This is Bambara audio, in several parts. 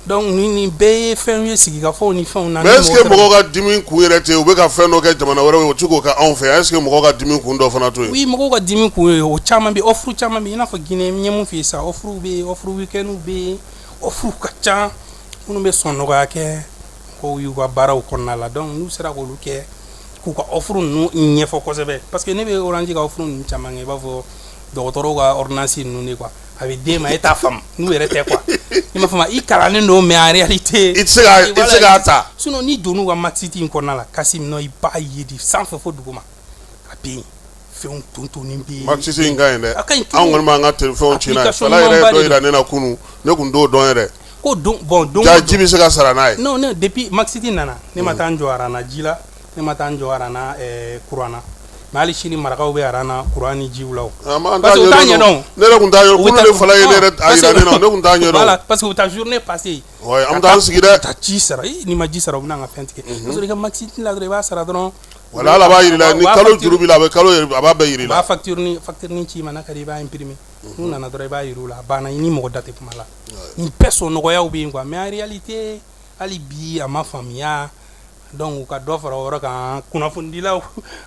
Donc ninnu bɛɛ ye fɛn ye sigi ka fɔ ni fɛn na mais est-ce que mɔgɔw ka dimi kun yɛrɛ tɛ u bɛ ka fɛn dɔ kɛ jamana wɛrɛ ye u tɛ k'o kɛ anw fɛ est-ce que mɔgɔw ka dimi kun dɔ fana t'o ye oui mɔgɔw ka dimi kun ye o caman bɛ offre caman bɛ i n'a fɔ n ye min f'i ye sa offre bɛ offre weekend bɛ yen offre ka ca minnu bɛ sɔn nɔgɔya kɛ ko y'u ka baaraw kɔnɔna la donc n'u sera k'olu kɛ k'u ka offre ninnu ɲɛfɔ kosɛbɛ parce que ne bɛ Orange ka offre ninnu caman kɛ i b'a fɔ dɔgɔtɔrɔw ka ordonnance ninnu de quoi a bɛ d'e ma e t'a faamu n'u yɛrɛ tɛ quoi i m'a faamu i kalannen don mais en réalité i tɛ se k'a i tɛ se k'a ta sinon n'i donn'u ka Maxit in kɔnɔna la Kasim non i b'a ye de sanfɛ fo duguma a bɛ yen fɛnw tontonnen bɛ yen Maxit in ka ɲi dɛ a ka ɲi an kɔni b'an ka fɛnw ci n'a ye fala yɛrɛ ye dɔ jira ne na kunun ne tun t'o dɔn yɛrɛ ko don bɔn don ja ji bɛ se ka sara n'a ye non non depuis Maxit nana ne ma taa n jɔ rang na ji la Ne ma taa n jɔ arana kuran na mɛ hali sini marakaw bɛ arana kuran ni jiw la parce que tun taa yɔrɔ ne parce que taa zuruur ne pa que an taa sigi dɛ ka ci sara ni ma ji sara u bɛna ka fɛn tigɛ i ka ma ci la i b'a sara dɔrɔn wala ala b'a jira ni kalo juru a bɛ kalo a b'a bɛɛ jira b'atirin ci ma ka i b'a pmi n'u nana dɔrɔn i b'a jira la banna i ni mɔgɔ dati kuma la n bɛɛ so nɔgɔya bɛ yen kuwa mɛali tɛ hali bi a ma faamuya donc u ka dɔ fara o yɔrɔ kan kunnafonidilaw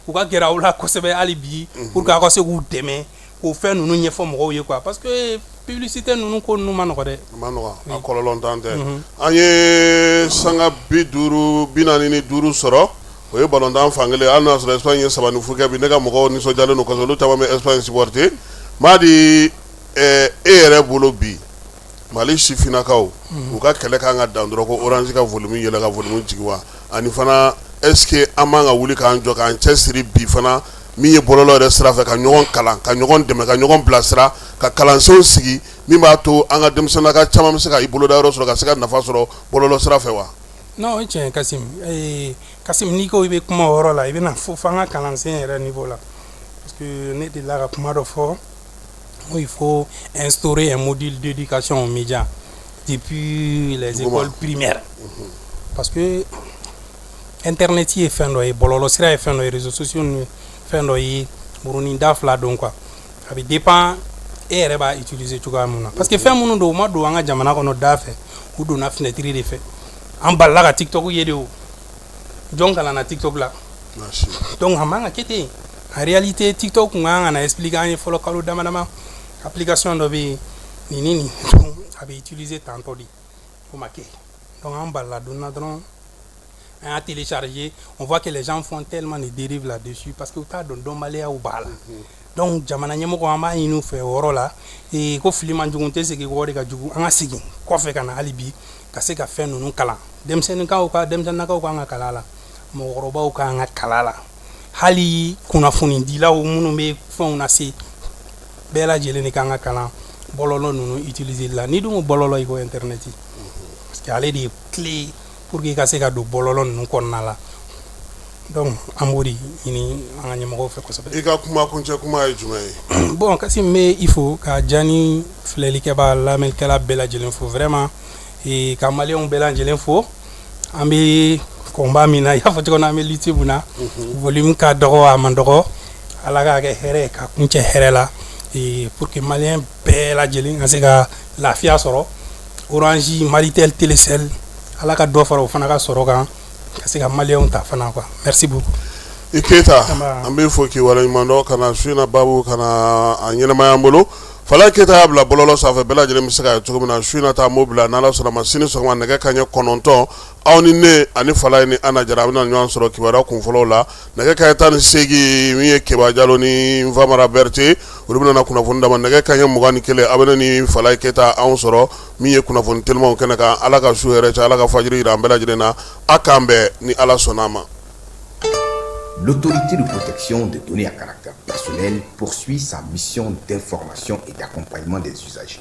u ka gɛrɛ aw la kosɛbɛ hali bi mhm. pour que aw ka se k'u dɛmɛ k'o fɛn ninnu ɲɛfɔ mɔgɔw ye quoi parce que publicité ninnu ko ninnu ma nɔgɔ dɛ a ma nɔgɔ a kɔlɔlɔntan tɛ mhm. an ye sanga bi duuru bi naani ni duuru sɔrɔ o ye balontan fankelen hali n'a sɔrɔ Espagne ye saba ni fu kɛ bi ne ka mɔgɔw nisɔndiyalen don kosɛbɛ olu caman bɛ Espagne supporter Madi eh, e yɛrɛ bolo bi mali sifinnakaw u ka kɛlɛ kan ka dan dɔrɔn ko Orange ka volume yɛlɛ ka volume jigin wa ani fana est-ce que an man ka wuli k'an jɔ k'an cɛ siri bi fana min ye bɔlɔlɔ yɛrɛ sira fɛ ka ɲɔgɔn kalan ka ɲɔgɔn dɛmɛ ka ɲɔgɔn bilasira ka kalansenw sigi min b'a to an ka denmisɛnninnaka caman bɛ se ka i boloda yɔrɔ sɔrɔ ka se ka nafa sɔrɔ bɔlɔlɔ sira fɛ wa non o ye tiɲɛ Kasim Kasim n'i ko i bɛ kuma o yɔrɔ la i bɛna fɔ fo an ka kalansen yɛrɛ niveau la parce que ne delila ka kuma dɔ fɔ Oui, il faut instaurer un module d'éducation aux médias depuis les écoles primaires. Mhm. Parce que Internet ye fɛn dɔ ye bɔlɔlɔ sira ye fɛn dɔ ye réseaux sociaux ye fɛn dɔ ye murunin da fila don quoi a bɛ dépend e yɛrɛ b'a utiliser cogoya mun na parce que fɛn minnu don u ma don an ka jamana kɔnɔ da fɛ u donna fenêtre de fɛ an balila ka tiktok ye de o jɔn kalanna tiktok la donc a man ka kɛ ten en réalité tiktok kun kan ka na expliquer an ye fɔlɔ kalo dama dama application dɔ bɛ yen nin ni nin a bɛ utiliser tan tan de o ma kɛ donc an balila donna dɔrɔn an y'a télécharger on voit que les gens font tellement de dérives là-dessus parce que u t'a dɔn dɔnbaliyaw b'a la donc jamana ɲɛmɔgɔ an b'a ɲini u fɛ o yɔrɔ la ee, ko fili man jugu tɛ segin kɔ de ka jugu an ka segin kɔfɛ ka na hali bi ka se ka fɛn ninnu kalan denmisɛnninkaw ka denmisɛnninakaw ka kan ka kalan la mɔgɔkɔrɔbaw ka kan ka kalan la hali kunnafonidilaw minnu bɛ fɛnw lase bɛɛ lajɛlen de ka kan ka kalan bɔlɔlɔ ninnu utiliseli la n'i dun ko bɔlɔlɔ i ko internet parce que ale de ye clé pour que i ka se ka don bɔlɔlɔ ninnu kɔnɔna la donc an b'o de ɲini an ka ɲɛmɔgɔw fɛ kosɛbɛ i ka kuma kuncɛ kuma ye jumɛn ye bon kasim n bɛ i fo ka ja nin filɛlikɛbaa lamɛnnikɛla bɛɛ lajɛlen fo vraiment e, ka maliyɛnw bɛɛ lajɛlen fo an bɛ combat min na i y'a fɔ cogo min na an bɛ lutte mun na mhm. volume ka dɔgɔ a man dɔgɔ ala k'a kɛ hɛrɛ ka kuncɛ hɛrɛ la e, pour que maliyɛn bɛɛ lajɛlen ka se ka lafiya sɔrɔ orange malitel telecel ala ka dɔ fara o fana ka sɔrɔ kan ka se ka maliyɛnw ta fana quoi merci beaucoup i keyita an b'i fo k'i waleɲumandɔn ka na su in na babu ka na a ɲɛnamaya an bolo fala keyita y'a bila bɔlɔlɔ sanfɛ bɛɛ lajɛlen bɛ se k'a ye cogo min na su in na ta an b'o bila n'ala sɔnna a ma sini sɔgɔma nɛgɛ kanɲɛ kɔnɔntɔn aw ni ne ani falayi ni ana jara an bɛna ɲɔgɔn sɔrɔ kibaruya kunfɔlɔw la nɛgɛ kanɲɛ tan ni seegin min ye keba jalo ni famara berete olu bɛna kunnafoni d'aw ma nɛgɛ kanɲɛ mugan ni kelen aw bɛ ne ni falayi keyita anw sɔrɔ min ye kunnafoni telimanw kɛnɛ kan ala ka su hɛrɛ caya ala ka fajiri jira an bɛɛ lajɛlen na aw k'an bɛn ni ala sɔnna a ma l'autorité de protection des données à caractère personnel poursuit sa mission d'information et d'accompagnement des citoyens